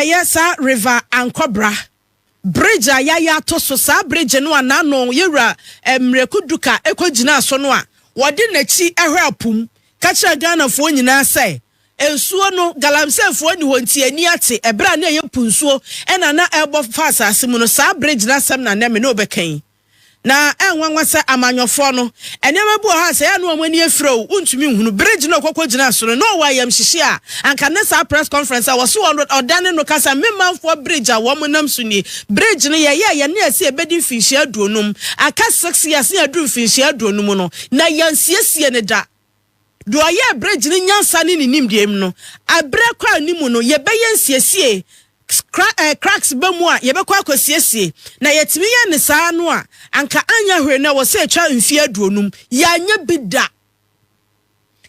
yɛ saa River Ankɔbra bridge a yɛayɛ ato so, saa bridge no a n'ano yɛwura Miraku Duka ɛkɔ gyinaa so no a wɔde n'akyi hwɛ apo mu ka kyerɛ Ghanafoɔ nyinaa sɛ nsuo no galamseyfoɔ nni hɔ nti ani ate ɛberɛ a na ɛyɛ po nsuo ɛna na ɛrebɔ fa asase mu no saa bridge no asɛm na nɛ me ne wo bɛka yi. Na ɛnwanwa sɛ amanyɔfoɔ no, nneɛma bi wɔ hɔ a sɛ ɛyɛ a na wɔn ani afira o, wontumi nhunu. Bere Gino kɔkɔ gyinaa so no, na ɔwɔ ayamhyehye a anka ne saa press conference a wɔse wɔn ɔdane no ka sɛ, Me manfoɔ bridge a wɔn nam so nie. Bridge no yɛyɛɛ yɛ ne ɛse ɛbɛdi mfinhyia aduonum. Aka six years na yɛaduru mfinhyia aduonum no, na yɛansiesie no da. Deɛ ɔyɛ ɛberɛ gyina nyansa ne ne nimdeɛ mu no, ɛberɛ kɔ anim no yɛbɛyɛ nsiesie, kra, eh, cracks ba mu a yɛbɛkɔ akɔsiesie, na yɛtumi yɛ ne saa no a, anka anyɛ hwee no ɛwɔ sɛ ɛtwa mfeɛ aduonum. Yɛanyɛ bi da.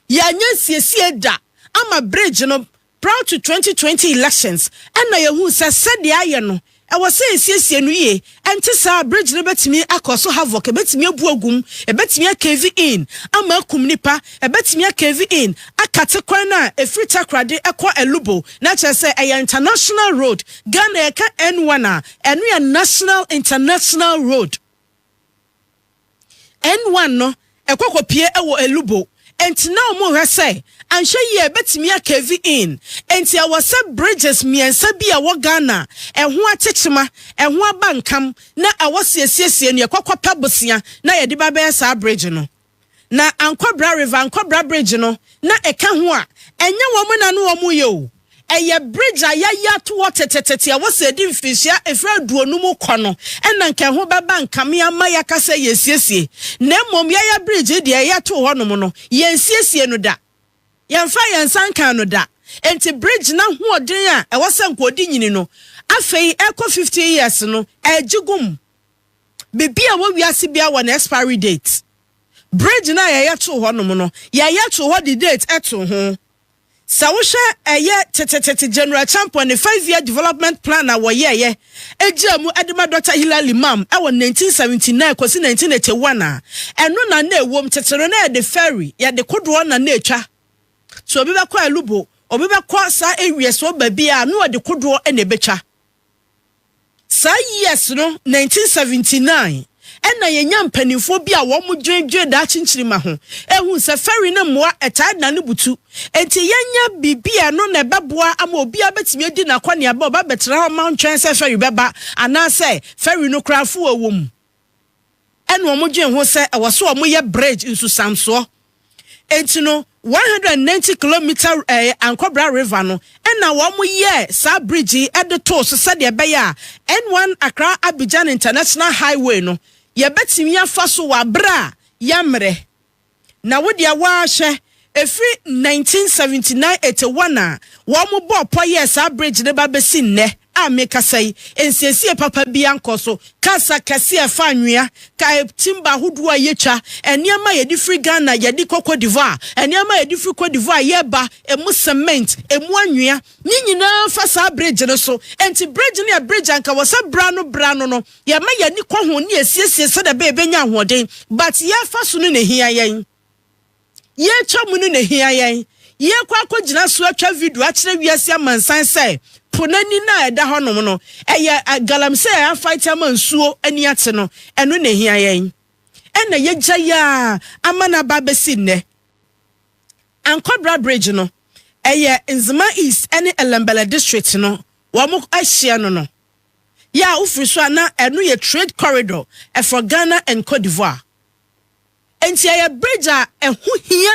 Yɛanyɛ nsiesie da ama bridge no Prior to twenty twenty elections ɛna yɛhuu sɛ sɛdeɛ ayɛ no ɛwɔ sɛ yɛsiesie no yie, ɛnte saa a bridge no bɛtumi akɔso havoc, ɛbɛtumi abu agu mu, ɛbɛtumi acave in ama akum nnipa, ɛbɛtumi acave in akate kwan no a ɛfiri Takoradi kɔ Alubo, na kyerɛ sɛ ɛyɛ international road, Ghana yɛka N one a ɛno yɛ national international road. N1 no kɔ kɔpue wɔ Elubo, enti na wɔrehwɛ sɛ anhwɛ yie a ɛbɛtumi akɛvi in. Enti ɛwɔ sɛ bridges mmiɛnsa bi a ɛwɔ Ghana a ɛho akyekyema, ɛho aba nkam na ɛwɔ sɛ yɛsiesie no, yɛkɔ kɔpɛ bosea na yɛde ba bɛyɛ saa bridge no. Na Ankwabra River, Ankwabra Bridge no, na ɛka ho a, ɛnyɛ wɔn na na wɔreyɛ o. Ɛyɛ bridge a yɛayi ato hɔ tetetete a wɔsi adi mfinhyia mfe aduonu mu kɔ no na nka ɛho bɛba nkame ama yɛaka sɛ yɛasiesie. Na mmom yɛyɛ bridge yi deɛ yɛtoo hɔnom no, yɛnsiesiee no da. Yɛmfaa yɛn nsa nkaa no da. Enti bridge no ahoɔden a ɛwɔ sɛ nka ɔde nyini no, afei ɛrekɔ 15 years no, ɛregye gum. Biribi a ɛwɔ wiase biara wɔ ne expiry date. Bridge no a yɛyɛ too hɔnom no, yɛyɛ too hɔ de date too ho. Sɛ wohwɛ ɛyɛ tetetete General Champon ne five year development plan a wɔyɛeɛ gyaa mu de ma Dɔkta Hillel Imam wɔ nineteen seventy nine kɔsi nineteen eighty one a, ɛno na na ɛwom. Tete no na yɛde ferry, yɛde kodoɔ na na ɛtwa. So obi bɛkɔ Alubo, obi bɛkɔ saa awiasoɔ baabiara a, na ɔde kodoɔ na ɛbɛtwa. Saa years no nineteen seventy nine ɛna yɛnya mpaninfoɔ bi a wɔn dwene dwene daakye nkyirima ho ɛhuu sɛ fɛri ne mmoa ɛtaa dane butu ɛnti yɛnyɛ biribi a ɛno na ɛbɛboa ama obiara bɛtumi adi nakɔneaba ɔba bɛtena hɔ mma ɔntwɛn sɛ fɛri bɛba anaasɛ fɛri no koraa fo wɔ wɔ mu na wɔdwen ho sɛ ɛwɔ sɛ wɔyɛ bridge, nsusamsoɔ. Enti no, 190 kilomita ɛɛ Ankɔbra River no na wɔyɛɛ saa bridge yi de too so sɛdeɛ ɛbɛyɛ a N1 Accra Abidjan International Highway no yɛbɛtumi afa so wɔ abere a yɛmmerɛ. Na wo deɛ waa hwɛ, ɛfiri nineteen seventy nine, eighty one a wɔn bɔɔ pɔ yɛɛ saa bridge no ba bɛsi nnɛ a mekasa yi, nsiesie papa biara nkɔ so, cars akɛseɛ a ɛfa anwea, timber ahodoɔ a yɛtwa, nneɛma a yɛde firi Ghana yɛde kɔ Cote d'Ivoire, nneɛma a yɛde firi Cote d'Ivoire yɛreba, ɛmu cement, ɛmu anwea, ne nyinaa fa saa bridge no so, ɛnti bridge no yɛ bridge a nka wɔ sɛ berɛ ano berɛ ano no, Yɛma yɛn ani kɔ ho ne yɛsiesie sɛdeɛ ɛbɛyɛ yɛbɛnya ahoɔden but yɛrefa so no na ɛhia yɛn. Yɛretwa mu no na ɛhia yɛn. Yɛrekɔ akɔgyina so atwa video akyerɛ wiase amansan sɛ po no ani no a ɛda hɔnom no, ɛyɛ galamsey a yɛafight ama nsuo ani ate no, ɛno na ɛhia yɛn. Ɛna yɛagya yi ara ama no aba abɛsi nnɛ. Ankwabra Bridge no, ɛyɛ Nzema East ne Ellembelle District no wɔn ahyeɛ no no. yɛ a wofiri so a na ɛno yɛ trade corridor for Ghana and Cote d'Ivoire. Enti ɛyɛ bridge a ɛho hia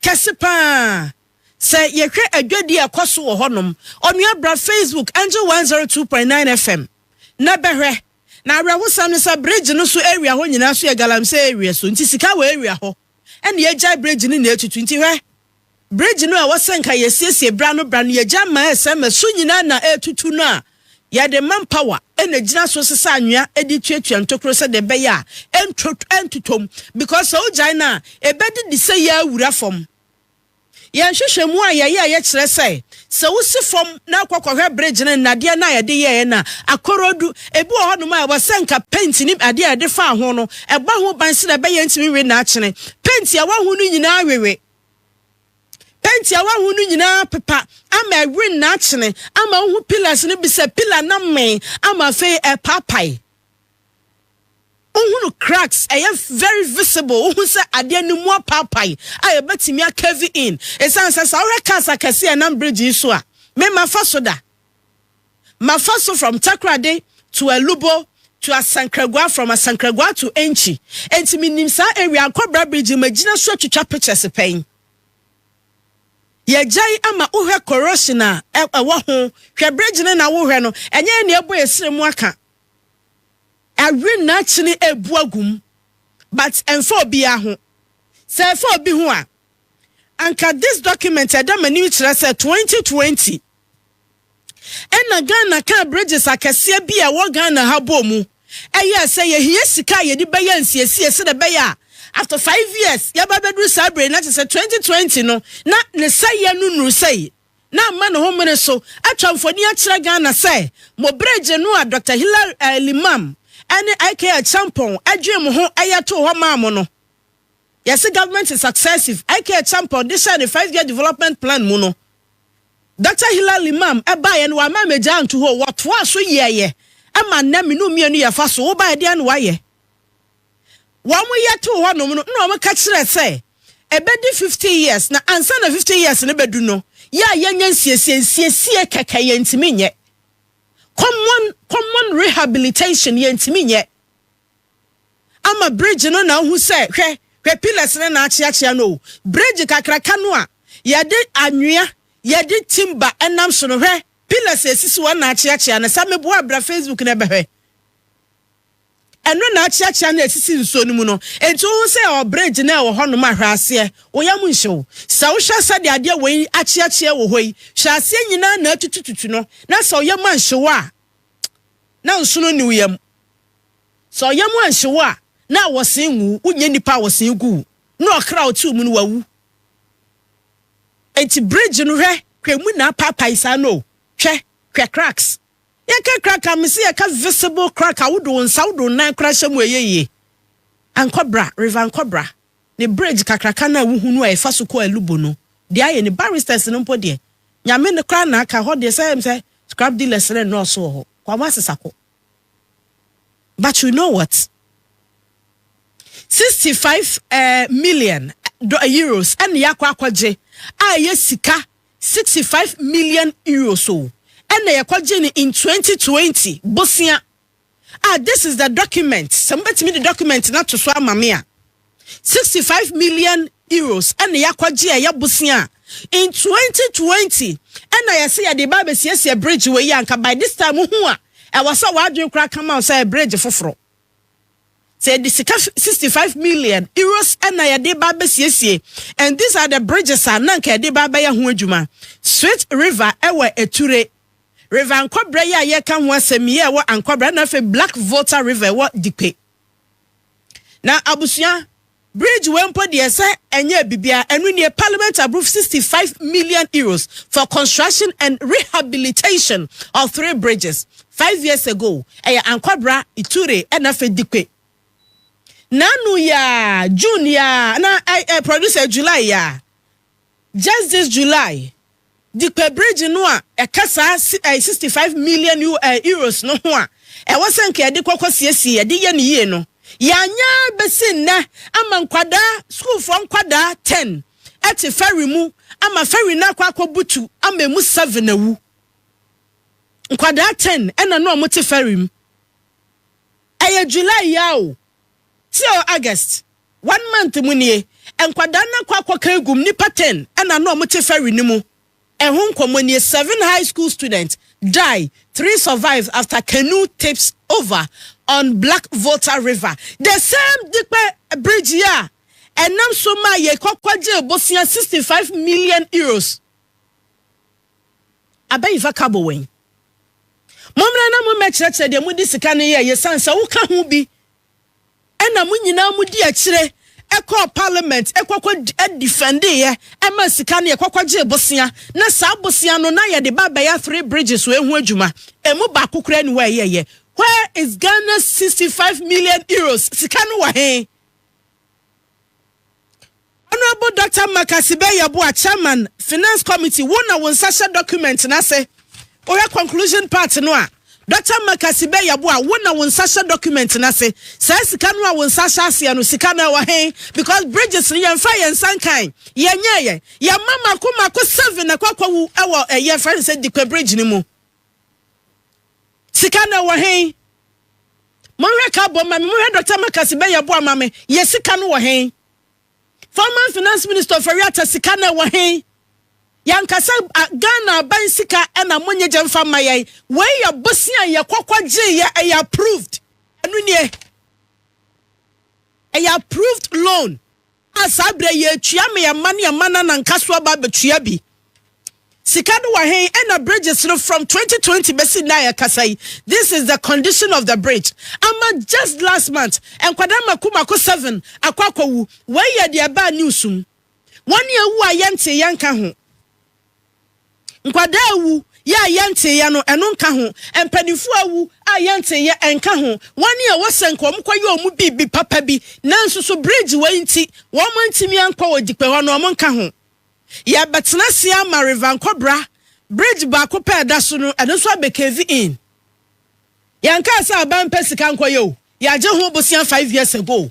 kɛse pa ara sɛ yɛhwɛ adwadi a ɛkɔ so wɔ hɔnom. Onua bra Facebook Angel 102.9 FM na bɛhwɛ. Na awerɛhosɛm ne sɛ bridge no so area hɔ nyinaa nso yɛ galamsey area so nti sika wɔ area hɔ ɛna yɛagyae bridge no na ɛretutu nti hwɛ. bridge no a ɛwɔ sɛ nka yɛsiesie bra no bra no yɛgya ma ɛsɛ ma so nyinaa na ɛretutu no a, yɛde man power na gyina so sesa anwea de tuatua ntokuro sɛdeɛ ɛbɛyɛ a ɛnto ɛntotɔm because sɛ wogyae no a ɛbɛdidi sɛ yɛawura fam. Yɛn nhwehwɛmu a yɛyɛ a yɛkyerɛ sɛ Sɛ wosi fam na akɔ kɔhwɛ bridge no nnadeɛ no a yɛde yɛeɛ no a, akorɔdu. Ebi wɔ hɔnom a ɛwɔ sɛ anka penti ne adeɛ a yɛde faa ho no, ɛbɔ ho ban sɛdeɛ ɛbɛyɛ a ɛntumi nwe naakyene. Penti a ɛwɔ ho no nyinaa wewe. Penti a ɛwɔ ho no nyinaa pepa ama ɛwe naakyene, ama wohu pillars no bi sɛ pillar no amee ama afei ɛrepaapae. wohunu cracks, ɛyɛ very visible, wohu sɛ adeɛ no mu apaapae a yɛbɛtumi akɛvi in, ɛsiane sɛ sɛ wohwɛ cars akɛse a ɛnam bridge yi so a, me mafa so da, mafa so from Takoradi to Alubo to Asankragua, from Asankragua to Enchi, enti menim saa area Akɔbra bridge yi magyina so atwitwa pictures pɛn. Yɛgyae ama wohwɛ corrosion a ɛwɔ ho, hwɛ bridge no na wohwɛ no, ɛnyɛ ɛne ɛbɔ yɛ srɛ mu aka, Awe na akyene ɛrebu agu mu but ɛmfa obiara ho. Sɛ ɛfa obi ho a, anka this document ɛda m'anim kyerɛ sɛ 2020 ɛna Ghana kaa bridges akɛseɛ bi a ɛwɔ Ghana ha bɔɔ mu ɛyɛɛ sɛ yɛhia sika a yɛde bɛyɛ nsiesie sɛdeɛ ɛbɛyɛ a after five years yɛba abɛduru saa berɛ yi na kyerɛ sɛ 2020 no na ne sɛeɛ no nnuru sɛi. na amma ne ho mene so atwa mfoni akyerɛ Ghana sɛ mo bere gye no a Dɔkta Hilary eh, Limam ne IK Acheampong dwee mo ho yɛ too hɔ maa mo no. Yɛse government is successive. IK Acheampong de hyɛɛ ne five year development plan mu no, Dɔkta Hilary Limam baeɛ no wama mmegyaa nto hɔ, wɔtoaa so yɛɛyɛ ma nnɛ me no mmienu yɛfa so, wobaeɛ deɛ na wayɛ. wɔyɛ too hɔnom no na wɔka kyerɛ sɛ ɛbɛdi 50 years na ansa na 50 years no bɛdu no yɛ a yɛnyɛ nsiesie nsiesie kɛkɛ yɛntumi nyɛ common common rehabilitation yɛntumi nyɛ ama bridge no na ahu sɛ hwɛ hwɛ pillars no na akyeakyea no bridge kakraka no a yɛde anwea yɛde timba ɛnam so no hwɛ pillars esisi wɔn na akyeakyea no sɛ meboa abira facebook na ɛbɛhwɛ Ɛno na akyeakyea no a ɛsisi nsuo no mu no. Enti wohu sɛ ɛwɔ bridge no a ɛwɔ hɔnom a, hwɛ aseɛ. Wo yam nhye wo. Sɛ wohwɛ sɛdeɛ adeɛ wei akyeakyea wɔ hɔ yi, hwɛ aseɛ nyinaa na atutututu no, na sɛ wo yam anhye wo a, na nsono nni wo yam. Sɛ wo yam anhye wo a, na awɔsee ngu wo. Wonyɛ nnipa a awɔsee gu wo. Na ɔkra a ɔte wo mu no, wawu. Enti bridge no, hwɛ, hwɛ emu na apaapae saa no o. Hwɛ, hwɛ cracks. Yɛka crack a, mese yɛka visible crack a wode wo nsa, wode wo nan koraa hyɛ mu a ɛyɛ yie. Ankɔbra, River Ankɔbra, ne bridge kakraka no a wohunu a ɛfa so kɔ Alubo no, deɛ ayɛ ni. Barristers no mpo deɛ, Nyame no koraa na aka, ɛhɔ deɛ sɛ sɛ scrap dealers no nnɔɔso wɔ hɔ, kɔ wɔn asesa kɔ. But you know what? 65 eh, million do, eh, euros ɛne yɛakɔ akɔgye a ɛyɛ sika Sixty five million euros o ɛna yɛkɔgyee no in twenty twenty bosea a this is the document sɛ mobɛtumi de document no ato so ama me a sixty five million euros ɛna yɛakɔgye a ɛyɛ bosea a in twenty twenty ɛna yɛsɛ yɛde ba abɛsiesie bridge wei anka by this time ho a ɛwɔ sɛ w'adwene koraa kama wo sɛ bridge foforɔ sɛ yɛde sika sixty five million euros ɛna yɛde ba abɛsiesie and these are the bridges a na nka yɛde ba abɛyɛ ho adwuma sweet river ɛwɔ eture river ankɔbrɛ yɛ a yɛka ho asɛm yɛ ɛwɔ ankɔbrɛ ɛna afei black volta river ɛwɔ dikpe na abusua Bridge wei mpo deɛ sɛ ɛnyɛɛ biribiara a, ɛno nie, Parliament approve sixty five million euros for construction and rehabilitation of three bridges five years ago, ɛyɛ Ankwabra, Ituri ɛna afei Dikpe. N'ano yi ara, June yi ara, na ɛɛ, producer, July yi ara, Just this July, Dikpe Bridge no a ɛka saa sixty five million euros no ho a ɛwɔ sɛ nka yɛde kɔ kɔ siesie yɛde yɛ no yie no, yɛanyɛ ara bɛsi nnɛ ama nkwadaa, sukuufoɔ nkwadaa ten te ferry mu ama ferry no akɔ akɔbutu ama ɛmu seven awu. Nkwadaa ten ɛna na wɔte ferry mu. Ɛyɛ July yi ara o. Tio August one month mu nie, nkwadaa no akɔ akɔka agu mu, nnipa ten na na wɔte ferry no mu, ɛho nkɔmmɔ nie, Seven high school students die, three survive after canoe tips over on Black Volta River, the same Dikpe bridge yi a ɛnam so maa yɛkɔ kɔgyee bosea sixty five million euros. Abayi fa ka bɔ wɔ yi. Mommra na mommɛkyerɛkyerɛ deɛ mode sika no yɛeɛ sane sɛ woka ho bi na mo nyinaa modi akyire kɔɔ parliament kɔkɔ defɛndeeɛ ma sika no yɛkɔkɔ gyee bosea na saa bosea no na yɛde ba bɛyɛ three bridges wɔ ɛho adwuma ɛmu baako koraa ni hɔ a ɛyɛyɛ where is Ghana's 65 million euros sika no wɔ he Honourable Doctor Mark Asibey Yeboah, Chairman, Finance Committee, wo na wo nsa hyɛ document no ase. Wohwɛ conclusion part no a, Doctor Mark Asibey Yeboah, wo na wo nsa hyɛ document no ase. Saa sika no a wo nsa ahyɛ aseɛ no, sika no ɛwɔ he? Because bridges no yɛmfa yɛn nsa nkan, yɛnyɛɛyɛ. Yɛma mako mako seven na ɛkɔ akɔwu ɛwɔ ɛyɛ fɛn sɛ Dikpe Bridge no mu. Sika no ɛwɔ he? Monhwɛ ka bɔ ma me, monhwɛ Dɔkta Makasi bɛyɛ boa ma me, yɛ sika no wɔ he? Former Finance Minister Ofori Atta sika no ɛwɔ he? Yɛnkasa Ghana aban sika ɛna monye gye mfa mma yɛn, wei yɛ bosea yɛ kɔkɔ gye yɛ ɛyɛ approved, ɛno nie ɛyɛ approved loan. A saa berɛ yi ɛtua me ɛma ne ɛma na nanka so aba abɛtua bi sika no wɔ hen ɛna bridges no from 2020 bɛsi nna a yɛkasa yi this is the condition of the bridge ama just last month nkwadaa mako mako seven akɔ akɔwu wei yɛ deɛ ɛbaa news mu wɔn ne ɛwu a yɛntee yɛnka ho Nkwadaa awu yɛ a yɛnteeɛ no, ɛno nka ho. Mpanimfoɔ awu a yɛnteeɛ, ɛnka ho. Wɔn a wɔsɛ nka wɔkɔyɛ wɔn biribi papa bi, nanso so bridge wei nti wɔantumi ankɔ Ogyikpe hɔ no, wɔnka ho. Yɛrebɛtena ase ama River Nkɔbra bridge baako pɛ a ɛda so no, ɛno nso abɛ cave in. Yɛnkaa sɛ aban mpɛ sika nkɔyɛ o, yɛagye ho bosea five years ago.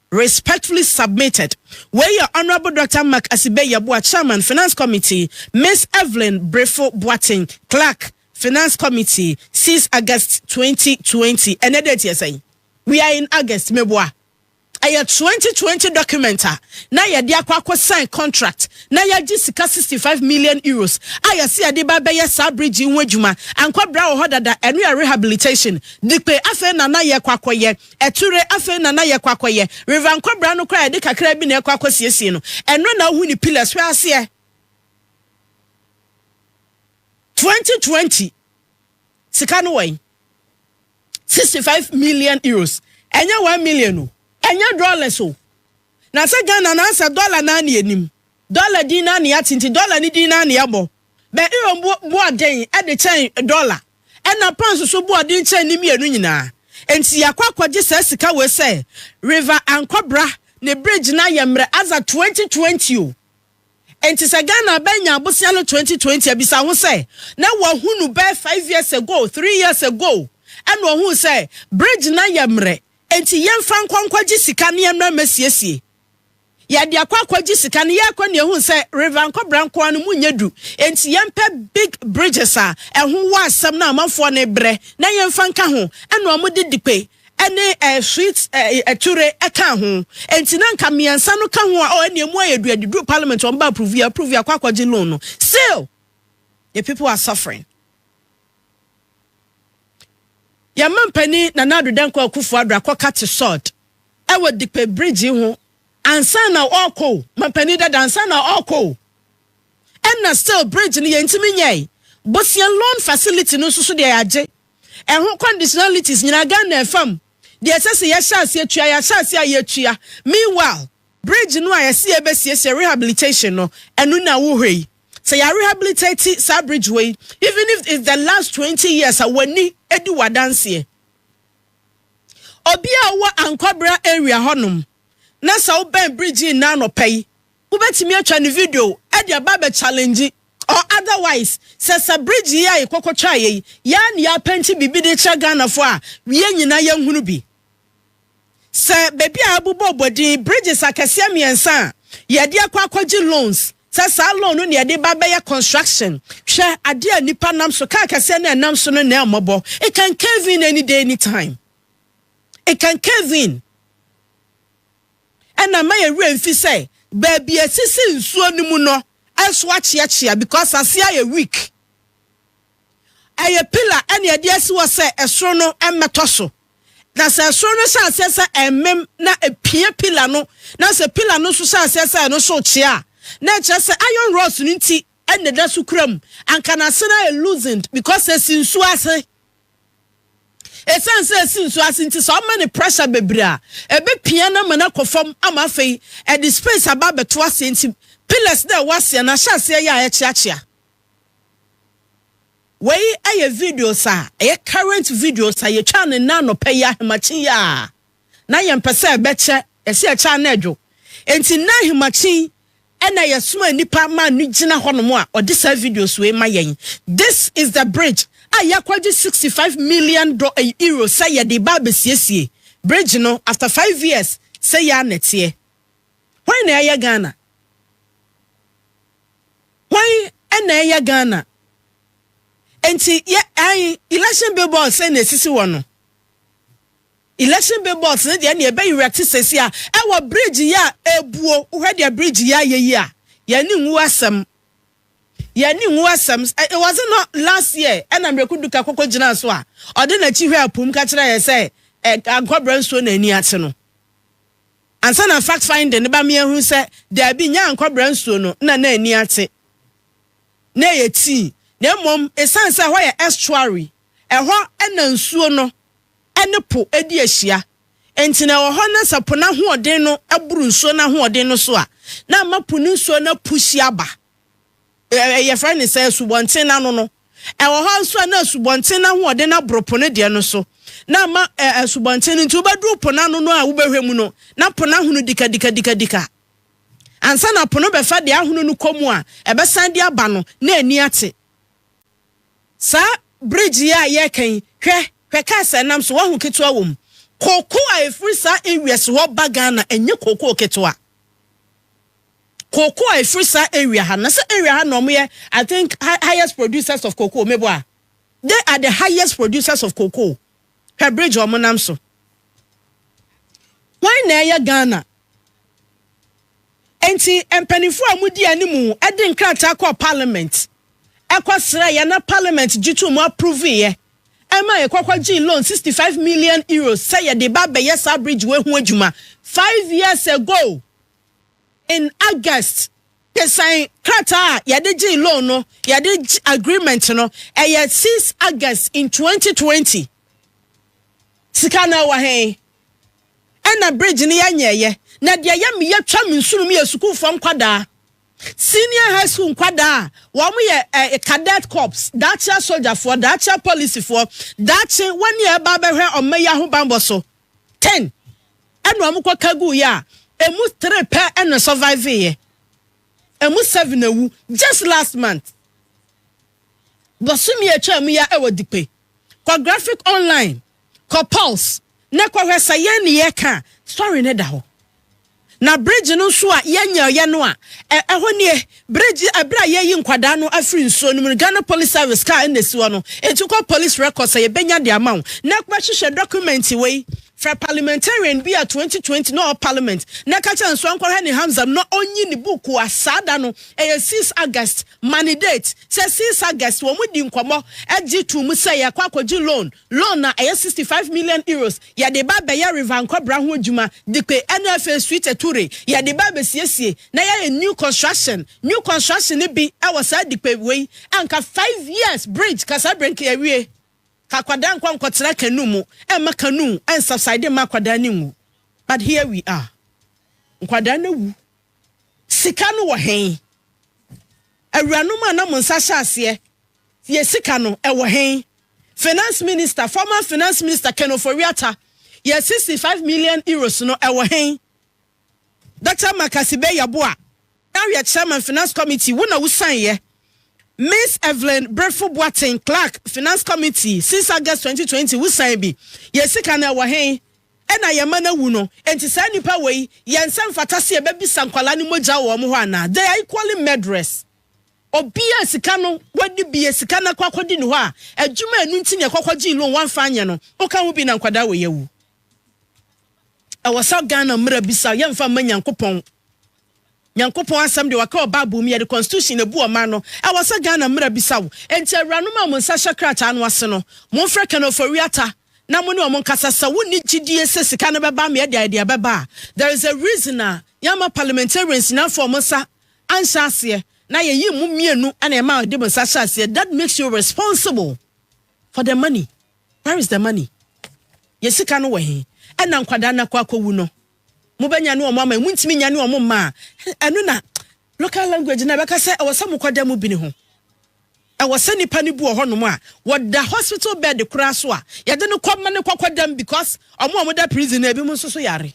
Respectfully submitted Wei yɛ Honourable Doctor Mark Asibe Yeboah Chairman Finance Committee, Miss Evelyn Brifo Boateng Clerk Finance Committee, Since August twenty twenty Ɛnɛ date yɛ sɛn? We are in August Meboa Ɛyɛ twenty twenty document a na yɛde akɔ akɔ sign contract na yɛagye sika sixty five million euros a yɛse yɛde ba bɛyɛ saa bridge yi ho adwuma Ankwabra wɔ hɔ dada Ɛno yɛ rehabilitation Dipe Afei na na yɛkɔ akɔyɛ Ature, afei na na yɛkɔ akɔyɛ. River nkɔbra no koraa yɛde kakraa bi na ɛkɔ akɔsiesie no. Ɛno na wohu ne pillars, hwɛ aseɛ. 2020 sika no wɔn 65 million euros ɛnyɛ 1 million o ɛnyɛ dollars o na sɛ ghana na asɛ dollar na ne anim dollar din na ne ate nti dollar ne din na ne ɛbɔ Bɛ euro bo boa den de kyɛn dɔla, ɛnna pounds nso boa den kyɛn ne mmienu nyinaa. Enti yɛakɔ akɔgye saa sika wei sɛ River Ankwabra ne bridge no ayɛ mmerɛ adza twenty twenty o. Enti sɛ Ghana bɛ nya abosea no twenty twenty a, bisa ho sɛ, na wahu no bɛyɛ five years ago, three years ago ɛnna ɔhuu sɛ bridge no ayɛ mmerɛ, enti yɛmfa nkɔ nkɔgye sika na yɛmmra mmɛsiesie. Yɛde akɔ akɔgye sika no, yɛrekɔ no yɛhuu sɛ River Nkɔbra nko ara no mu nyɛ du, enti yɛmpɛ big bridges a ɛho wɔ asɛm no a amanfoɔ no rebrɛ na yɛmfa nka ho, ɛna wɔde Dikpe ne Sweet Ture kaa ho, enti na nka mmiɛnsa no ka ho a oh ɛnna ɛmu ayɛ du, ɛdeduru Parliament wɔn ba approve, yɛ approve, yɛakɔ akɔgye loan no, still the people are suffering. Yɛn mampanin Nana Addo Dankwa Akufo-Addo akɔka te sod. wɔ Dipe Bridge yi ho ansa na ɔrekɔ o, mampanin dada ansa na ɔrekɔ o. Ɛna still bridge no yɛntumi nyɛe. Bosea loan facility no nso so deɛ yɛagye. Ɛho conditionalities nyinaa Ghana fam deɛ ɛsɛ sɛ yɛhyɛ aseɛ tua, yɛahyɛ aseɛ a yɛatua. Meanwhile, bridge no a yɛse yɛbɛsiesie rehabilitation no, ɛno na wohwɛ yi. Sɛ yɛarehabilitate saa bridge wei, even if it's the last 20 years a w'ani di w'adanseɛ. Obi a ɔwɔ Ankwabra area hɔnom na sɛ wobɛn bridge yi nnɛ anɔpa yi, wobɛtumi atwa ne video de aba abɛ challenge or otherwise sɛ sɛ bridge yi a yɛkɔkɔ twaa yɛ yi yɛa ne yɛapɛnti biribi de kyerɛ Ghanafoɔ a yɛn nyinaa yɛnhunu bi. Sɛ baabi a abobɔ bɔ din bridges akɛseɛ mmiɛnsa a yɛde akɔ akɔgye loans Sɛ saa loan no na yɛde ba bɛyɛ construction, hwɛ adeɛ a nnipa nam so, car kɛseɛ no a ɛnam so no na ɛmmɔbɔ. It can cave in any day, any time. It can cave in. Ɛna ma yɛ werɛ mfi sɛ baabi a ɛsisi nsuo no mu no nso akyeakyea because aseɛ ayɛ weak. Ɛyɛ pillar ɛna yɛde asi hɔ sɛ ɛsoro no mmɛtɔ so. Na sɛ soro no hyɛ aseɛ sɛ ɛremem na ɛpia pila no, na sɛ pila no nso hyɛ aseɛ sɛ ɛno so rekye a, na ɛkyerɛ sɛ iron rods no nti na ɛda so kura mu. Anka n'ase no ayɛ loosened because ɛsi nsuo ase. Ɛsiane sɛ ɛsi nsuo ase nti, sɛ ɔma no pressure bebree a, ɛbɛpia no ama no akɔ fam ama afei ɛde space aba abɛto aseɛ nti pillars no a ɛwɔ aseɛ no ahyɛ aseɛ yɛ a ɛkyeakyea. Wei yɛ videos a ɛyɛ current videos a yɛtwaa no nnɛ anɔpa yi ahemakye yi a na yɛmpɛ sɛ ɛbɛkyɛ, yɛse yɛkyɛ a na ɛdwo. Enti nnɛ ahemakye yi na yɛsomaa nnipa maa no gyina hɔnom a ɔde saa videos wei ma yɛn. This is the bridge a yɛakɔgye sixty five million do eh, euro sɛ yɛde reba abɛsiesie bridge no after five years, sɛ yɛ a na ɛteɛ. Hwan na ɛyɛ Ghana? Hwan na ɛyɛ Ghana? Nti yɛ ae election bill box na esisi hɔ no. Election bill box no deɛ na ɛbɛ erect sɛsi a ɛwɔ bridge yɛ a ebuo wohwɛ deɛ bridge yɛ ayɛ yi a yɛn ne nwu asɛm yɛn ne nwu asɛm it was not last year ɛna mmereku duka koko gyina so a ɔde n'akyi hwɛ apum ka kyerɛ yɛ sɛ ankɔbrɛ nsuo na ani akye no. Ansa na fact finding no ba mea hu sɛ daabi nyɛ ankɔbra nsuo no na na ani ate na ɛyɛ tii na mmom ɛsiane sɛ ɛhɔ yɛ estuary ɛhɔ na nsuo no ne po di ahyia nti na ɛwɔ hɔ na sɛ po no ahoɔden no boro nsuo no ahoɔden no so a na ama po no nsuo no apushi aba Yɛfrɛ no sɛ asubɔnten no ano no. Ɛwɔ hɔ nso a na asubɔnten no ahoɔden no aboro po no deɛ no so, na ama asubɔnten no nti wobɛduru po no ano no a wobɛhwɛ mu no, na po no ahono dikadikadikadika. Ansa na po no bɛfa deɛ ahono no kɔ mu a ɛbɛsan de aba no, na ani ate. Saa bridge yi a yɛreka yi, hwɛ, hwɛ cars a ɛnam so, woahu ketewa wɔ mu. Cocoa a ɛfiri saa US hɔ ba Ghana, ɛnyɛ cocoa ketewa. cocoa a ɛfiri saa area ha na sɛ area ha na wɔyɛ I think highest producers of cocoa mebo a they are the highest producers of cocoa hwɛ bridge wɔn nam so wɔn na ɛyɛ Ghana nti mpanimfoɔ a wɔdi anim de nkrataa kɔ parliament ɛkɔ srɛ yɛ na parliament gye to mu approve yɛ ɛma yɛ kɔkɔ gye loan sixty five million euros sɛ yɛde ba abɛyɛ saa bridge wɔ ho adwuma five years ago. in August kesan krataa a yɛde gyee loan no yɛde agreement no ɛyɛ six August in twenty twenty sika na ɛwɔ hɛn ɛna bridge no yɛnyɛɛyɛ na deɛ yɛ mi yɛ twam nsunom yɛ sukuufoɔ nkwadaa senior high school nkwadaa a wɔn yɛ ɛɛ cadet corps daakye asogyafoɔ daakye apolisifoɔ daakye wɔn a ɛba abɛhwɛ ɔmma yi ahobanbɔ so. ten na wɔn kɔ ka guu yɛ a ɛmu three pɛ na survive yɛ ɛmu seven awu just last month bɔsumi atwa mu yɛ ɛwɔ dipe kɔ graphic online kɔ pulse na kɔ hwɛ sɛ yɛn ne yɛ ka story ne da hɔ Na bridge no nso a yɛnyɛeɛ no a, ɛhɔ nie, bridge, ɛberɛ a yɛyi nkwadaa no afiri nsuo no mu no, Ghana Police Service car na ɛsi hɔ no, enti kɔ police records a yɛbɛnya de ama wo. Na kɔhwehwɛ document wei, frɛ parliamentarian bi a 2020 na ɔwɔ parliament na ka kyerɛ no nso ɔnkɔhwɛ ne Hamza mu na ɔnyi ne book a saa da no, ɛyɛ 6 August, ma ne date, sɛ 6 August wɔn di nkɔmmɔ gye too mu sɛ yɛkɔ akɔgye loan, Loan a ɛyɛ sixty five million euros yɛ de ba bɛyɛ river nkɔbra ho adwuma dipe ɛna afei suite ture yɛ de ba bɛsiesie na yɛyɛ new construction new construction no bi ɛwɔ saa dipe wei anka five years bridge ka saa bere nka yɛwie ka akwadaa nkɔ nkɔtena canoe mu ɛmma canoe ɛnsubside mma akwadaa ne nwu but here we are nkwadaa no awu Sika no wɔ he? Awuranom a na mo nsa hyɛ aseɛ yɛ sika no, ɛwɔ he? Finance Minister, former Finance Minister Ken Ofori-Atta yɛ 65 million euros no, ɛwɔ he? Dɔkta Marcus Ibei-Yeboah, now yɛ Chairman Finance Committee, wo na wo sign'eɛ. Miss Evelyn Brefo Boateng, Clerk, Finance Committee, since August 2020, wo sign bi. Yɛ sika no, ɛwɔ he? Ɛna yɛma no awu no enti saa nipa wei yɛn sɛ mfata sɛ yɛbɛbisa nkwadaa no mogya wɔ wɔn hɔ anaa? They are equally murderers. Obia a sika no wadi bi yɛ sika no akɔ akɔdi ne hɔ a adwuma a ɛno nti na ɛkɔ kɔgyee loan wamfa anyɛ no woka ho bi na nkwadaa wei awu. Ɛwɔ sɛ Ghana mmara bisa yɛmfa mma Nyankopɔn. Nyankopɔn asɛm deɛ wɔka wɔ bible mu yɛde constitution na ebu ɔman no ɛwɔ sɛ Ghana mmra bisa wo enti awuranom a wɔn nsa hyɛ krataa no ase no mo mfrɛ Ken Ofori Atta na mo ne wɔn nkasa sɛ wo nni gyidie sɛ sika no bɛba ama yɛde ayɛ deɛ ɛbɛba a there is a reason a yɛamma parliamentarians nyinaa mfa wɔn nsa anhyɛ aseɛ na yɛyii mo mmienu na yɛma wɔde mo nsa hyɛ aseɛ that makes you responsible for the money where is the money yɛ sika no wɔ he ɛna nkwadaa no akɔ akɔwu no. Mobɛnyane wɔn ama emu ntumi nyane wɔn mma a, ɛno na local language no a ɛbɛka sɛ ɛwɔ sɛ mokɔda mu bini ho. Ɛwɔ sɛ nipa no bi wɔ hɔnom a wɔda hospital bed koraa so a yɛde no kɔ ma no kɔkɔdam because wɔn a wɔda prison no ebinom nso so yare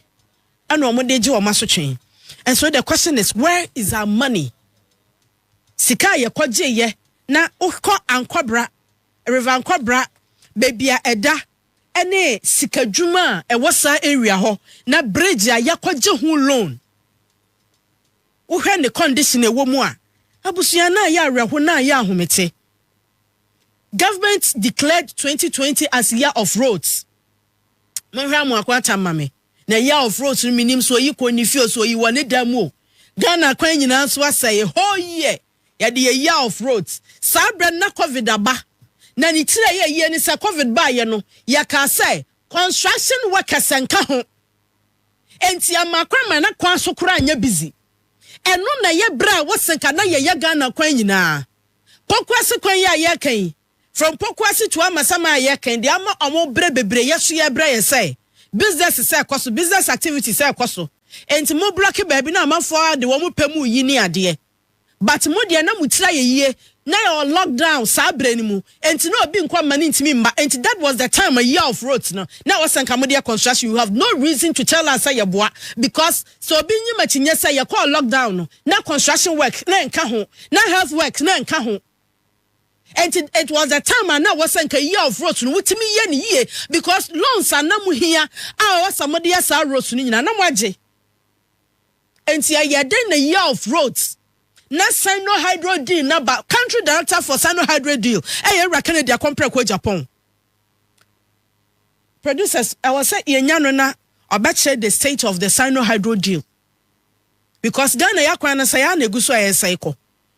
ɛna wɔde gye wɔn asotwe. And so the question is where is our money? Sika a yɛkɔgyeeɛ na wokɔ Ankɔbra, River Ankɔbra, baabi a ɛda ne sika dwuma a ɛwɔ saa area hɔ na bridge a yɛakɔgye ho loan wohwɛ ne condition a ɛwɔ mu a abusua no ayɛ awerɛho na ayɛ ahomete government declared 2020 as year of roads monhwɛ amoako atam ma me na year of roads no menim so oyi kɔ ne fie so oyi wɔ ne dan mu o Ghana kwan nyinaa nso asɛe whole year Yɛde yɛ year of wrote saa berɛ no na covid aba na ne tiri a ɛyɛ yie ne sɛ covid baeɛ no yɛkaa sɛ construction workers nka ho enti ɛmaa kwan ma na kwan so koraa nyɛ busy ɛno na ɛyɛ berɛ a wose ka na yɛyɛ Ghana kwan nyinaa Pokuase kwan yi a yɛreka yi from Pokuase to Amasaman a yɛreka yi deɛ ama wɔn berɛ bebree yɛ so yɛbrɛ yɛ sɛ business sɛ ɛkɔ so business activity sɛ ɛkɔ so enti mo block baabi na amanfoɔ ara de wɔn pɛ mu yi ne adeɛ. but mo deɛ na mo tiri ayɛ yie na yɛwɔ lock down saa berɛ no mu enti na obi nkɔ mma no ntumi mma enti that was the time a year of roads no na ɛwɔ sɛ nka mo deɛ construction you have no reason to tell us sɛ yɛboa because sɛ obi nyim akyinnye sɛ yɛkɔɔ lock down no na construction work na ɛnka ho na health work na ɛnka ho enti it was the time a na ɛwɔ sɛ nka year of roads no wotumi yɛ ne yie because loans a na mo hia a ɛwɔ sɛ mo deɛ saa roads no nyinaa na mo agye Enti ɛyɛ dɛn na Year of Roads na Sino-Hydro Deal no aba? Country Director for Sino-Hydro Deal yɛ Ewura Kennedy Akompreko Agyapong. Producers, ɛwɔ sɛ yɛnya no na ɔbɛkyerɛ the state of the Sino-Hydro Deal because Ghana yɛakwan no sɛe ara na ɛgu so a ɛresɛe kɔ.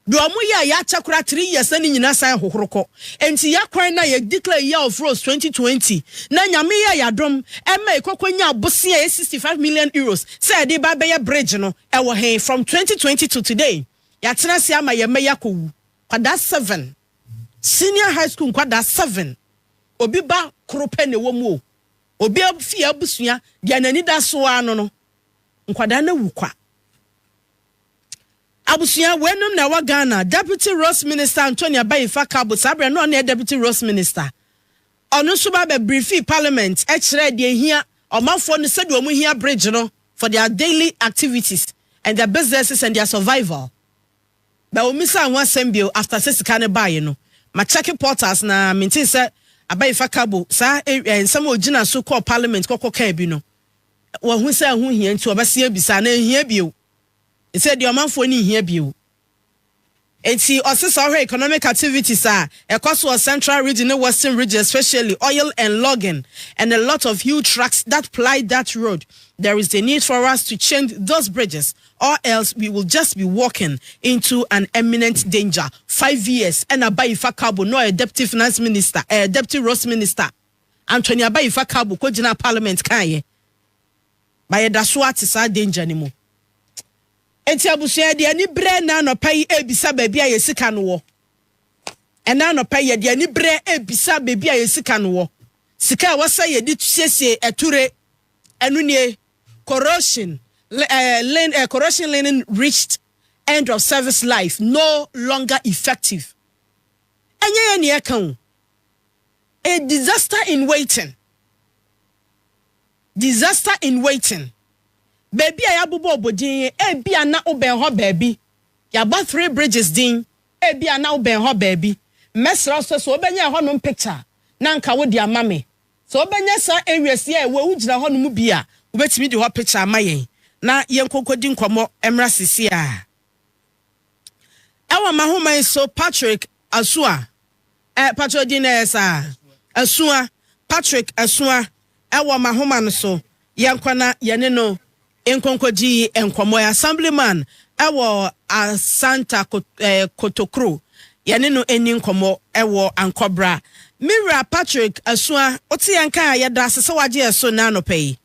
Deɛ ɔmo yɛ a yɛakyɛ koraa three years na ne nyinaa san hohoro kɔ. Enti yɛ kwan na yɛ declare year of rose twenty twenty na Nyame yɛɛ yɛ adom ɛma yɛ kɔkɔ nyaa bosea ɛyɛ sixty five million euros sɛ yɛde reba abɛyɛ bridge no ɛwɔ he from twenty twenty to today yɛatena ase ama yɛ mma yi akɔ wu nkwadaa seven senior high school nkwadaa seven obi ba koro pɛ na ɛwɔ mu o obi fie abusua deɛ n'ani da so ara no no nkwadaa no awu kwa. Abusua, wei nom na ɛwɔ Ghana, Deputy Roads Minister Antonia Bayifa Kabo, saa berɛ no na ɔno yɛ Deputy Roads Minister, ɔno nso ba bɛ briefee Parliament kyerɛɛ deɛ ɛhia ɔmanfoɔ no sɛdeɛ wɔn hia bridge no for their daily activities and their businesses and their survival. Bɛ wɔn misaa ho asɛm bio after sɛ sika no baaɛ no, ma check portals na me ntee sɛ Abayifa Kabo saa eh, nsɛm a ɔgyina so kɔɔ Parliament kɔkɔ kaa bi no, wɔahu sɛ ɛho hia nti wɔbɛsen abisa anaa ɛhia bio. te sɛ deɛ ɔmanfoɔ no nhia bio. Enti ɔse sɛ ɔhwɛ economic activities a ɛkɔ so wɔ central region ne western region especially oil and logging and a lot of huge trucks that ply that road there is the need for us to change those bridges or else we will just be walking into an imminent danger. Five years ɛna Abayifa Kabo na ɔyɛ deputy finance minister ɛɛ eh, deputy roads minister Anthony Abayifa Kabo kɔgyinaa parliament kaeɛ. But yɛda so ara te saa danger no mu. Enti abusua yɛde aniberɛ ɛnnɛ anɔpa yi ɛrebisa baabi a yɛn sika no wɔ. Ɛnnɛ anɔpa yi yɛde aniberɛ ɛrebisa baabi a yɛn sika no wɔ. Sika a ɛwɔ sɛ yɛde siesie ature, ɛno nie, corrosion, eh, lin, eh, corrosion linen reached end of service life no longer effective. Ɛnyɛ yɛ neɛ ka o. A disaster in waiting. Disaster in Waiting, Baabi a Yɛabobɔ Abodin, ebia na wobɛn hɔ baabi. Yɛabɔ Three Bridges din, ebia na wobɛn hɔ baabi. Mɛsrɛ wo sɛ, sɛ wobɛnya ɛhɔnom picture a, na anka wode ama me. Sɛ wobɛnya saa areas yi a ɛwɔ wogyina hɔ no mu bi a, wobɛtumi de hɔ picture ama yɛn na yɛnkɔ nkɔdi nkɔmmɔ mmra seesei ara. Ɛwɔ m'ahoma yi so, Patrick Asua, Eh patrɔ din no ɛyɛ saa. Asua, Patrick Asua ɛwɔ mahoma no so yɛnkɔ na yɛne no nkonkɔdi nkɔmɔ ɛ Assemblyman ɛwɔ Asanta Kotokro yɛne no nni nkɔmɔ ɛwɔ Ankɔbra Me wura Patrick Asua wote yɛn nka a yɛdaase sɛ wagye yɛ so nnɛ anɔpa yi.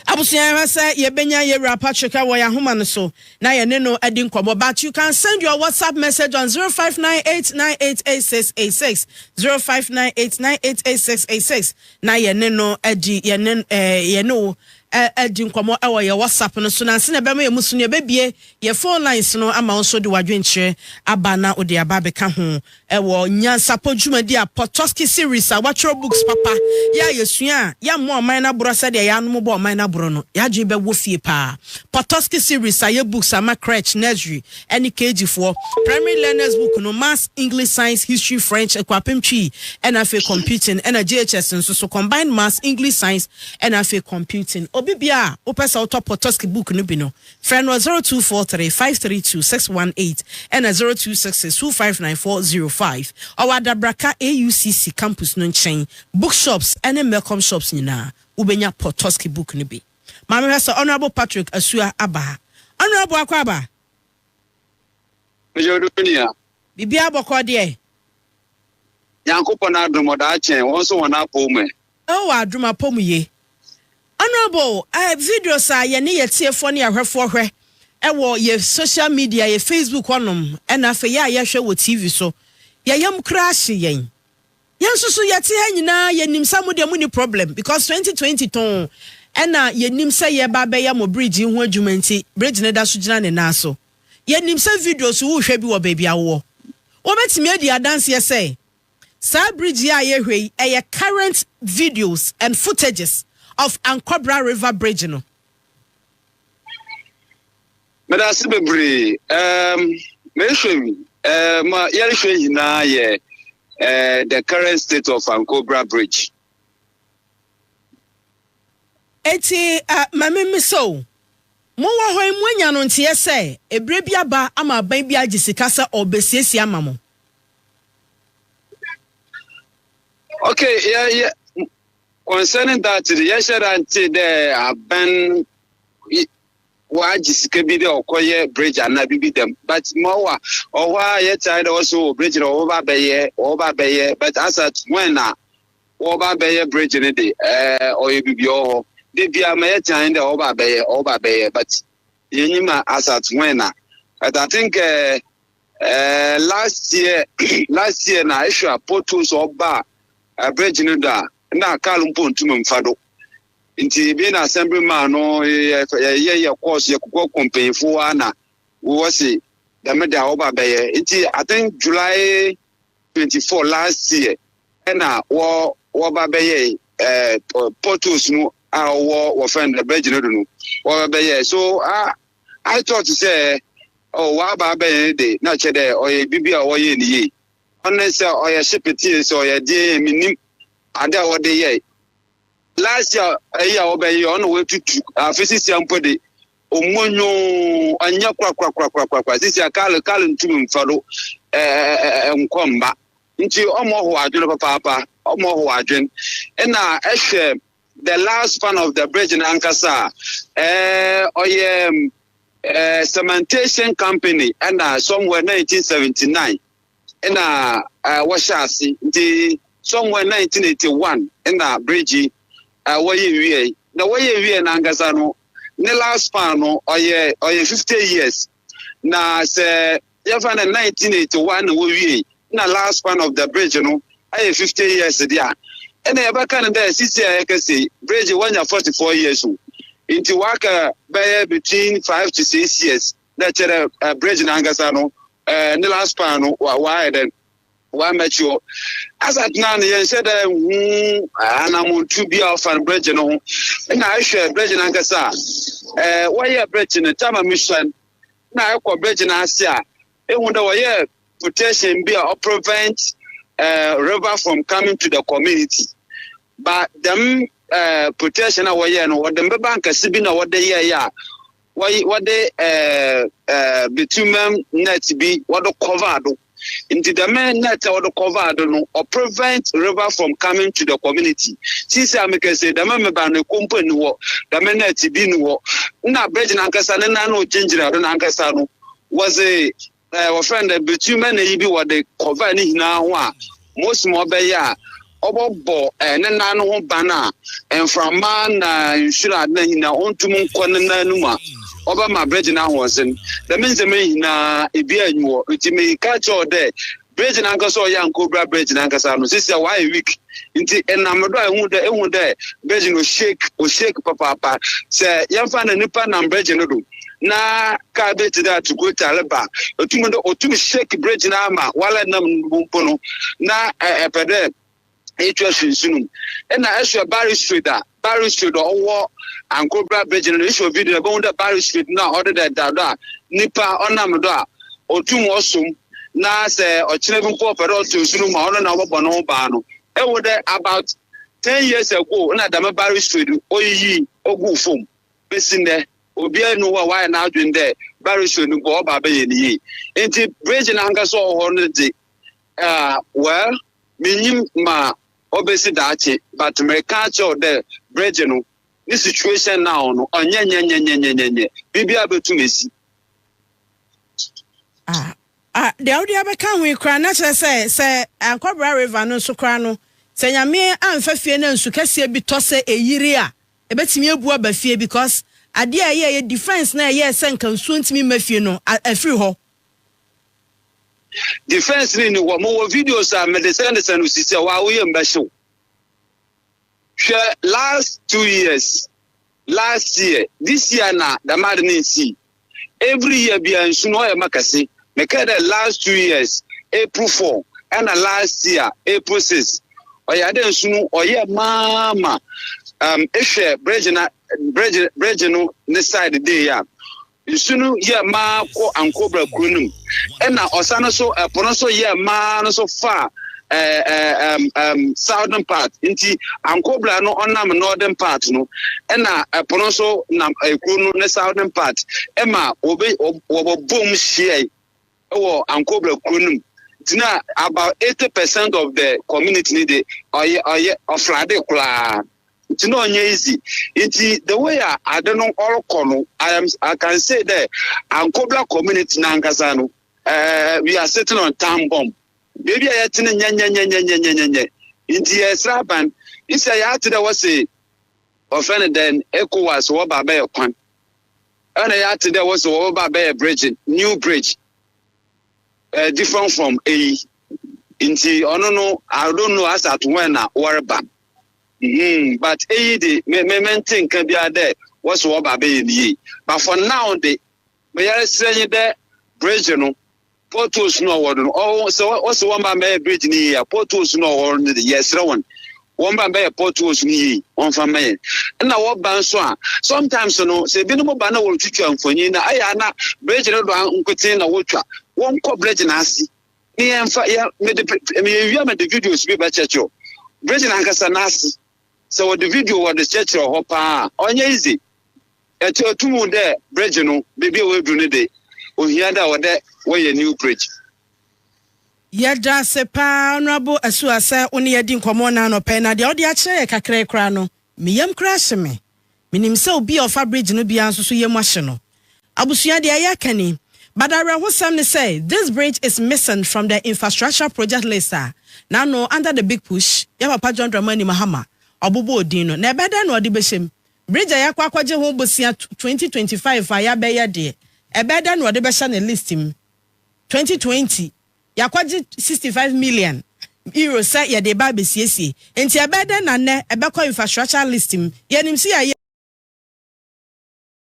Abusua yɛn hwɛ sɛ yɛbɛnya yɛ wura Patrick wɔ yɛn ahoma no so na yɛne no adi nkɔmmɔ but you can send your WhatsApp message on 0598988686 0598988686 na yɛne no adi yɛne eh, yɛne wo eh, adi nkɔmmɔ wɔ yɛ WhatsApp no so nansi na ɛbɛma yɛn mu so no yɛbɛbie yɛ phone lines no ama wo nso de wadwenkyerɛ aba na wode aba abɛka ho Ɛwɔ nyansapɔ dwumadi a Potocki Series a wɔatwerɛ books papa yɛ a yɛsua a yɛmmɔ ɔman no aborɔ sɛdeɛ yɛanom bɔ ɔman no aborɔ no, yɛn adwene bɛwɔ fie pa ara. Potocki Series ayɛ books ama crèche, nursery, ne KG foɔ. Primary learners book no, Maths, English, Science, History, French, Akuapem Twi, ɛna afei Computing, ɛna JHS nso so, Combined Maths, English, Science, ɛna afei Computing. Obi biara a wopɛ sɛ wotɔ Potocki book no bi no, Frɛ no wɔ 0243 532 618 ɛna 0266 259405. Ɔwɔ Adabraka AUCC campus no nkyɛn. Book shops ne Melcom shops nyinaa wobɛnya Potosky book no bi. Ma mehwɛ sɛ Honourable Patrick Asua aba ha. Honourable akɔ aba? Mehyɛ do nua. Biribiara bɔkɔɔ deɛ? Nyankopɔn adom ɔdaa kyɛn wɔn nso wɔn apɔw mu ɛ. Oh adom apɔmuyie. Honourable eh videos a yɛne yɛ tiefoɔ ne yɛ ahwɛfoɔ hwɛ ɛwɔ yɛ social media yɛ Facebook hɔ nom ɛna afei yɛ a yɛhwɛ wɔ TV so yɛ yam koraa hye yɛn yɛn nso so yɛte ha nyinaa yɛ nim sɛ mo deɛ mo ni problem because 2020 too ɛna yɛ nim sɛ yɛ ba bɛyɛ mo bridge yi ho adwuma nti bridge ne da so gyina ne nan so yɛ nim sɛ videos wo hwɛ bi wɔ baabi a wowɔ wɔbɛtumi adi adanseɛ sɛ Saa bridge yi a yɛhwɛ yi ɛyɛ current videos and footages of Ankwabra river bridge no. Meda ase bebree. Um, mehwɛ wi. Uh, ma yɛrehwɛ nyinaa yɛ uh, the current state of Ankwabra bridge. Eti uh, ma mimi so. Mowɔ hɔ yi moanya no nteɛ sɛ ebire bi aba ama aban bi agye sika sɛ ɔrebɛsiesie ama mo. Okay, yeah, yeah. Concerning that, yɛhyɛ da nte dɛ abɛn wɔagye sika bi dɛ ɔkɔyɛ bridge anaa biribi dɛm but ma ɔwɔ a ɔhɔ a yɛtae dɛ ɔso wɔ bridge na ɔwɔba bɛyɛ ɔwɔba bɛyɛ but as at when na wɔba bɛyɛ bridge no de ɛɛ ɔyɛ biribi ɔhɔ de bia ma yɛtae dɛ ɔwɔba bɛyɛ ɔwɔba bɛyɛ but yɛnyima as at when na but I think ɛɛ. Uh, Eh, last year last year na ehwɛ a potholes ɔba a eh, bridge no do a na car mpo ntum mfa do nti ebi na assembly man no yɛyɛ yɛ course yɛ kokɔ kɔ mpanyinfo wa na wɔwɔ se dɛm de a wɔba bɛyɛ nti i think july twenty four last year ɛna wɔ wɔba bɛyɛ eh, potholes no a wɔwɔ wɔfɛn bridge no do no wɔba bɛyɛ so ah. I thought sɛ oh w'aba abɛyɛ ne de na kyɛ dɛ ɔyɛ biribi a wɔyɛ ne yie ɔne sɛ ɔyɛ hyepeteɛ sɛ ɔyɛ deɛ yɛ menim ade a wɔde yɛ last year ɛyi a wɔbɛyɛ ɔne wɔatutu afe sisia mpo de ɔmmɔ nwoo ɔnyɛ korakorakorakorakora sisia kale kale ntumi mfa do nkɔ mma nti ɔmɔ ho adwene papaapa ɔmɔ ho adwene ɛna ɛhwɛ the last span of the bridge no ankasa a eh, ɔyɛ eh, cementation company ɛna somewhere 1979 ɛna eh, wɔhyɛ ase nti somewhere 1981 ɛna bridge yi eh, wɔyɛ wie na wɔyɛ wie no ankasa no ne last span no ɔyɛ ɔyɛ 50 years na sɛ yɛfa no 1981 na wɔwiei na last span of the bridge no ayɛ 50 years de a ɛna yɛbɛka no dɛ sisi a yɛka sei bridge wanya 44 years o nti waka bɛyɛ between 5 to 6 years na kyerɛ uh, bridge no ankasa no uh, ne last span no waayɛ dɛn Wɔammɛkyew. Asa tenaa no yɛnhyɛ da nhu anammɔntu bi a ɔfa no berɛgye no ho. Ɛna ɛhwɛ berɛgye no ankasa a, ɛɛ wɔyɛ berɛgye no tama mu hyɛn na ɛkɔ berɛgye no ase a, ehu dɛ wɔyɛ protection bi a ɔprevent ɛɛ river from coming to the community. Ba dɛm ɛɛ protection a wɔyɛ no, wɔde mbɛba nkɛse bi na wɔde yɛɛyɛ a, wɔy wɔde ɛɛ betumɛm net bi wɔde cover do nti dɛm net a wɔde cover do no ɔ prevent river from coming to the community sisi a mekɛse dɛm meba no ekompo ni hɔ dɛm net bi ni hɔ na bridge nankasa ne nan no gyingyina do nankasa no wɔdze ɛɛ wɔfrɛ no dɛ birikyimɛ na yi bi wɔde kɔvaa ne nyinaa ho a Mose ma ɔbɛyɛ a ɔbɔbɔ ɛɛ ne nan no ho ban a mframa na nhwiren ade na nyinaa ɔntum nkɔ ne nan no mu a ɔbɛma bregye no ahoɔdzen dɛm ndzɛmba yi nyinaa ebiara nyi hɔ nti meka kyerɛ wo dɛ bregye no ankasa ɔyɛ a nka obira bregye no ankasa no sisi a wɔayɛ weak nti ɛnam do a ehu dɛ ehu dɛ bɛgye no shake o shake papaapa sɛ yɛmfa na nipa nam bɛgye no do na kaa bi te dɛ atukota reba etum dɛ otum shake bɛgye no ama wala nam no mpo no na ɛpɛ dɛ etwa hwɛ nsu no mu ɛna ɛhwɛ barry street a Barry Street a ɔwɔ Ankobra Bridge no do. Ehwɛ video no a, ibohu dɛ Barry Street no a ɔdeda da do a nyimpa ɔnam do a, otum ɔsom, na sɛ ɔkyena bi mpo a ɔpɛ dɛ ɔtɔ nsu no mu a, ɔno na ɔbɔbɔ noho ban no. Ehu dɛ about ten years ago na dɛm Barry Street no oyiyii oguu famu. Besi ndɛ, obiara nnyi hɔ a ɔayɛ n'adwen dɛ Barry Street no mpo ɔba abɛyɛ no yie. Ntsi bridge no ankasa a ɔwɔ hɔ no dze, ah, well, minnyim ma obesi daakye but mereka akyerɛ wo dɛ Bridge no ne situation now no ɔnyɛ nyɛnyɛnyɛnyɛnyɛnyɛ biribiara bɛtum asi. Ah ah deɛ wode abɛka ho yi koraa na kyerɛ sɛ sɛ Ankwabra river no nso koraa no sɛ Nyame amfa fie na nsu kɛseɛ bi tɔ sɛ ɛyiri a ɛbɛtumi abu aba fie because adeɛ a ɛyɛɛyɛ defense no a ɛyɛɛ sɛ nka nsuo ntumi mma fie no afiri hɔ. defense ni ni hɔ mo wɔ videos a mede sɛnde sɛn no sisi a waa woyɛ mbɛhyew hwɛ last two years last year this year na dɛm ade no nsii every year bia nsu no ɔyɛ ma kɛse mekɛɛ dɛ last two years april four ɛna last year april six ɔyɛ adɛ nsu no ɔyɛ maama um, ehwɛ bridge na bridge bridge no ne side day a Nsu no yɛɛ ma kɔ Ankobra kuro no mu, ɛna ɔsan no so ɛpo no so yɛɛ ma no so faa ɛɛ ɛɛm ɛɛm southern part nti Ankobra no ɔnam northern part no ɛna ɛpo no so nam ɛkuro no ne southern part ɛma wɔbɛ wɔbɔ bom hyiae. wɔ Ankobra kuro no mu ti na about eighty percent of the community ni de ɔyɛ ɔyɛ ɔflade koraa nti na ɔnyɛ easy nti the way a ade no ɔrekɔ no I am I can say that Ankobra community n'ankasa no uh, we are sitting on time bomb beebi a yɛte no nyɛnyɛnyɛnyɛnyɛnyɛnyɛ nti yɛsrɛ aban nsɛ yɛate dɛ wɔse wɔfrɛ no dɛn ECOWAS wɔba bɛyɛ kwan ɛna yɛate dɛ wɔse wɔbɛba abɛyɛ bregye new bridge uh, different from eyi nti ɔno no i don't know as at when na wɔreba hmm but eyi de me me me nte nka biara dɛ wɔse wɔba abɛyɛ ne yie but for now de meyɛresrɛ nye dɛ bridge no Potholes no a ɔwɔ do no, ɔwɔ sɛ ɔsɛ wɔn ba mbɛyɛ bridge no yie a, potholes no a ɔwɔ no de yɛsrɛ wɔn wɔn ba mbɛyɛ potholes no yie, wɔn fa mma yɛn. Ɛna wɔba nso a, sometimes no sɛ ebinom ba na wɔretwitwa mfonyin na ɛyɛ a na bridge no do nkotsee na wotwa, wɔn kɔ bridge n'ase ne yɛn fa yɛ mede meyɛ wie a mede videos bi bɛkyerɛkyerɛ bridge n'ankasa n'ase sɛ wɔde video wɔde kyerɛkyerɛ hɔ paa ɔnyɛ easy. Ɛtɔ atum wo dɛ bregye no beebi a woedur no de, ohia dɛ ɔwɔ dɛ wɔyɛ new bregye. Yɛda ase paa Honourable Asua sɛ wo ne yɛn adi nkɔmmɔ nnɛ anɔpa yi, na deɛ wode akyerɛ yɛn kakra yi koraa no, me yam koraa ahye me. Menim sɛ obi a ɔfa bridge no biara nso so yam ahye no. Abusua, deɛ yɛreka ni, but awerɛhosɛm ne sɛ this bridge is missing from the infrastructure project list a n'ano under the big push yɛn papa John Dramani Mahama ɔbobɔɔ din no. Na ɛbɛyɛ dɛn na ɔde bɛhyɛ mu? Bridge a yɛakɔ akɔgye ho bosea twenty twenty five a yɛabɛyɛ deɛ, ɛbɛyɛ dɛn na wɔde bɛhyɛ ne list mu? Twenty twenty, yɛakɔgye sixty five million Euros sɛ yɛde reba abɛsiesie, enti ɛbɛyɛ dɛn na nnɛ ɛbɛkɔ infrastructure list mu? Yɛnim sɛ yɛayɛ.